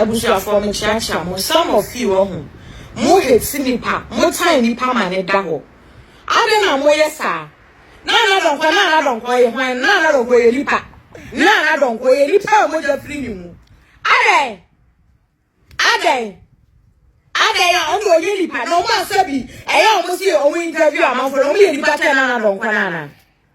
Abusuafoɔ mekyeakyea mo some of you ɔho mo hate nipa mo tan nipa ma ne da hɔ adɛn na mo yɛ saa Nana Donkor Nana Donkor yɛ hwan Nana Donkor yɛ nipa Nana Donkor yɛ nipa a mogya firi ne mu adɛn adɛn adɛn a ɔmo ɔnyɛ nipa na ɔmo asɛ bi ɛyɛ ɔmo se ɔmo interview amanfoɔ na ɔmo yɛ nipa kyɛ Nana Donkor Nana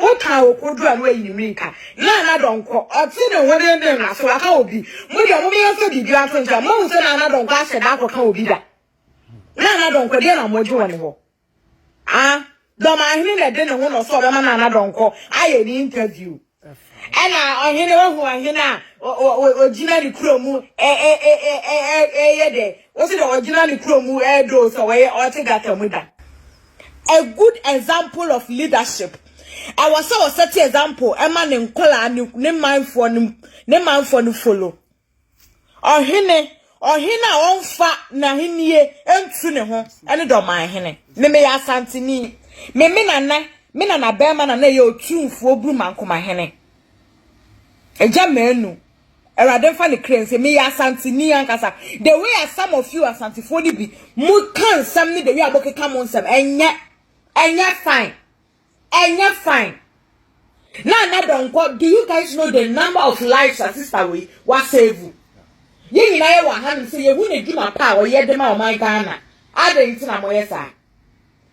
Wokaa wɔ kodu a na wayi ne mmirika. Naa Nadɔ nkɔ, ɔte ne ho denden no ase, waka obi. Mo deɛ mo meyɛ sɛ biribiara to nkyɛn. Moahu sɛ Naa Nadɔ nkɔ ahyɛ da akɔka obi da? Naa Nadɔ nkɔ, deɛ na mogye wɔ ne hɔ? Ah, Dɔmahene na ɛde ne ho na ɔsɛ ɔbɛma Naa Nadɔ nkɔ ayɛ ne interview. Ɛna ɔhene, wahu ɔhene a ɔgyina ne kuro mu ɛyɛ dɛ, ɔsɛ dɛ ɔgyina ne kuro mu ɛdoo sɛ ɔyɛ ɔte gata mu da. A good example of leadership, ɛwɔ sɛ wɔ set example ɛma ne nkɔlaa ne ne manfoɔ no ne manfoɔ no follow. Ɔhene ɔhene a ɔnfa n'ahennie ntu ne ho ɛne dɔman hene. Me meyɛ asanteni. Me me nana me nana bɛrima nana yɛ otumfuo burumankoma hene. Ɛgya mɛnu Awurade mfa ne kra nsie. Meyɛ Asanteni ankasa. The way a some of you Asantefoɔ no bi mo ka nsɛm ne the way a mo keka mo nsɛm ɛnyɛ ɛnyɛ fine ɛnyɛ fine. Na na dɔnkɔ do you guys know the number of lives a sister wei wa save? Yɛn nyinaa yɛ wɔ ahanom sɛ yɛhu ne dwuma pa a ɔyɛ de ma ɔman Ghana. Adɛn nti na moyɛ saa?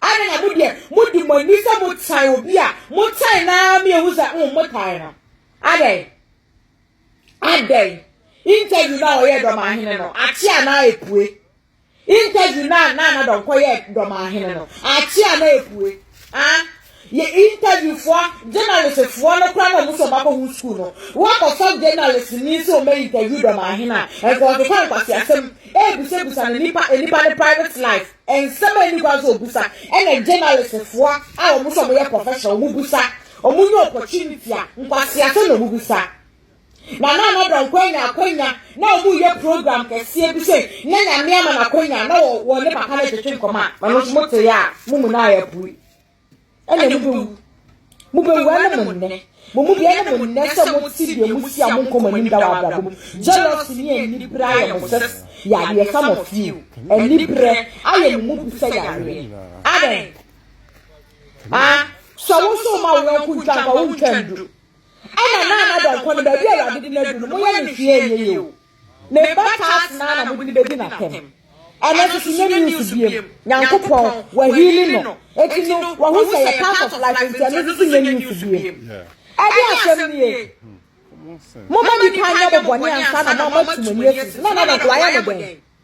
Adɛn na mo deɛ mo di mo ani sɛ mo tan obi a mo tan naa mi ehu sɛ mm mo tan no. Adɛn? Adɛn? Interview no a ɔyɛɛ Dɔmahene no, akye a na epue. Interview no a na Anadɔn kɔyɛɛ Dɔmahene no, akye a na epue. Ah, yɛ interviewfoɔ, journalistfoɔ no koraa na wɔn nso wɔakɔhu sukuu no. Woakɔfa journalistni sɛ ɔmmɛ interview Dɔmahene a, ɛnka ɔkeka nkwaseasɛm, ɛrebusabusa no nipa nipa ne private life, nsɛm a ɛnni kwan sɛ ɔbusa, ɛna journalistfoɔ a wɔn nso wɔyɛ professional, wɔbusa. Ɔmo nya opportunity a nkwaseasɛm na ɔmo bisa. Na na Anada Nko anya akwanya na ɔmo yɛ program kɛseɛ bi sei na Nyame ama no akwanya na wɔ wɔ ne papa no twetwe nkɔmɔ a. Ɛno nso mo tee a mo mu no ayɛ pue. Ɛnna mo bɛwu. Mo bɛwu ɛne mo nnɛ. Mo mu bi ɛne mo nnɛ sɛ mo te deɛ mo si a mo nkɔ mo anim da wɔ abrabɔ mu. Jealousy ne anibrɛ ayɛ mo sɛ yareɛ some of you. Anibrɛ ayɛ mo mu bi sɛ yareɛ. Adɛn? a sɛ wo nso woma wo yɔnko ntwa nkwa wontwa ndu ɛna na na dɔnkɔ no baabi a awurade de no adu no moyɛ ne hwee ɛnyɛ yie o ne ba taas naa na mode no bɛdi n'atɛm ɛno nso so nyɛ news biem nyankopɔn wahili no eti no wahu sɛ yɛ part of life nti ɛno nso so nyɛ news biem ɛde asɛm nie moma nipa nyɛ bɔbɔne ansa na mama tumani asi na na dɔnkɔ wayɛ no dɛn